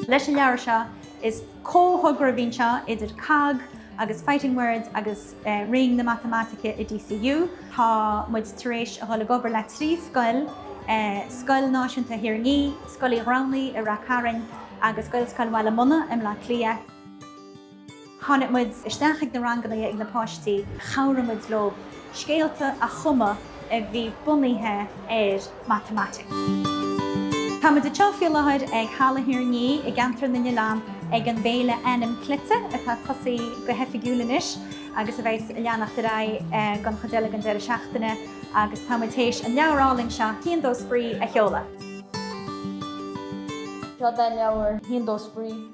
Leis an leabhar seo, is comhthogra a bhí anseo idir COGG agus Fighting Words agus Roinn na Matamaitice i DCU. Tá muid tar éis a dhul ag obair le trí scoil, Scoil Náisiúnta Thír an Fhia, Scoil Uí Ghramhnaigh i Ráth Chairn agus Gaelscoil Bhaile Munna i mBleá Cliath. Tháinig muid isteach ag na ranganna ag na páistí, chabhraigh muid leo scéalta a chumadh a bhí bunaithe ar matamaitic. Tá muid anseo faoi láthair ag Halla Thír an Fhia i gCeantar na nOileán ag an bhFéile Ainm Cleite atá tosaithe go hoifigiúil anois agus a bheas ag leanacht ar aghaidh don chuid eile den deireadh seachtaine agus tá muid théis an leabhar álainn seo Haon Dó Spraoi a sheoladh! Seod é an leabhar Haon Dó Spraoi.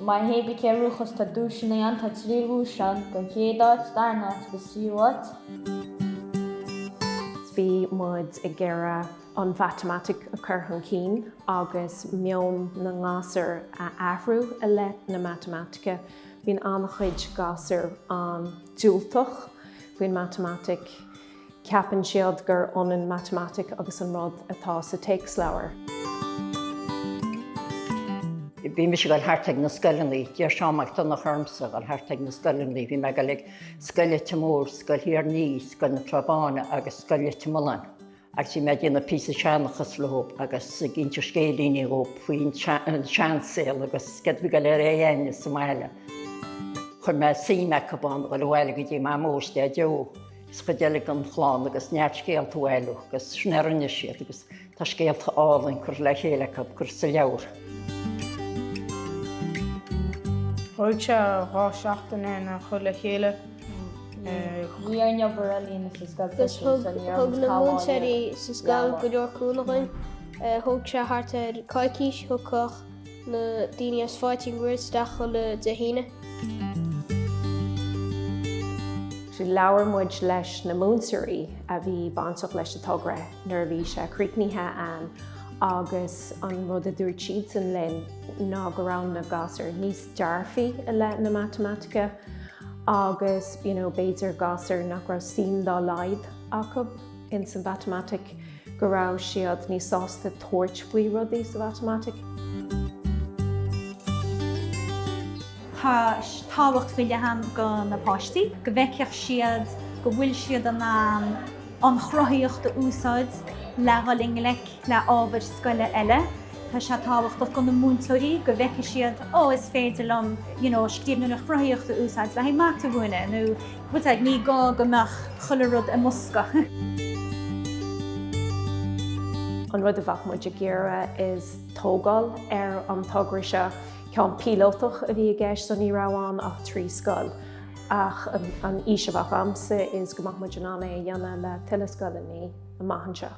Má théim go Cill Ruachais tá duaiseanna ann, tá trí dhuais ann don chéad áit, darna áit agus tríú áit. Bhí muid ag iarraidh an mhatamaitic a chur chun cinn agus meon na ngasúr a athrú i leith na matamaitice. Bíonn an-chuid gasúr an-diúltach faoin matamaitic. Ceapann siad gur ionann matamaitic agus an rud atá sa téacsleabhar. Bhí mise ag dul thart ag na scoileanna, d'iarr Seán Mac Donnacha ormsa a dhul thart ag na scoileanna. Bhí mé ag dul ag Scoil Leitir Móir, Scoil Thír an Fhia, Scoil na Trá Báine agus Scoil Leitir Mealláin agus bhí mé ag déanamh píosa seanchas leo agus ag inse scéilíní leo faoin seansaol agus céard a bhí go léir a dhéanamh sa mbaile. Chuir mé suim acu ann a dhul abhaile go dtí Mamó is Daideo. Is cuid eile den chlann agus neart scéalta a bhailiú agus sin a rinne siad agus tá scéalta álainn curtha le chéile acu ag cur sa leabhar. Thóg sé dhá seachtain orainn é a chur le chéile. Bhí an obair ealaíne sa scoil freisin agus thug na múinteoirí sa scoil go leor cúnamh dhúinn. Thóg sé thart ar coicís, thagadh na daoine as Fighting Words isteach chuile Dé hAoine. Labhair muid leis na múinteoirí a bhí bainteach leis an togra nuair a bhí sé críochnaithe ann agus an rud a dúirt siadsan linn ná go raibh na gasúir níos dearfaí i leith na matamaitice agus, you know, b'fhéidir gasúir nach raibh suim dá laghad acu. ins an mhatamaitic, go raibh siad níos sásta tabhairt faoi rudaí sa mhatamaitic. Tá tábhacht faoi leith ann do na páistí, go bhfeicfeadh siad go bhfuil siad in ann an chruthaíocht a úsáid le dhul i ngleic le ábhair scoile eile. Tá sé tábhachtach do na múinteoirí, go bhfeicfidh siad, 'Ó, is féidir liom, you know, scríbhneoireacht chruthaitheach a úsáid le haghaidh mata a mhúineadh nó, tá a fhios agat, ní gá go mbeadh chuile rud i mbosca. An rud a bheadh muid ag iarraidh is tógáil ar an togra seo. Ceann píolótach a bhí i gceist so ní raibh ann ach trí scoil ach an fhís a bheadh agamsa is go mbeadh muid in ann é a dhéanamh le tuilleadh scoileannaí amach anseo.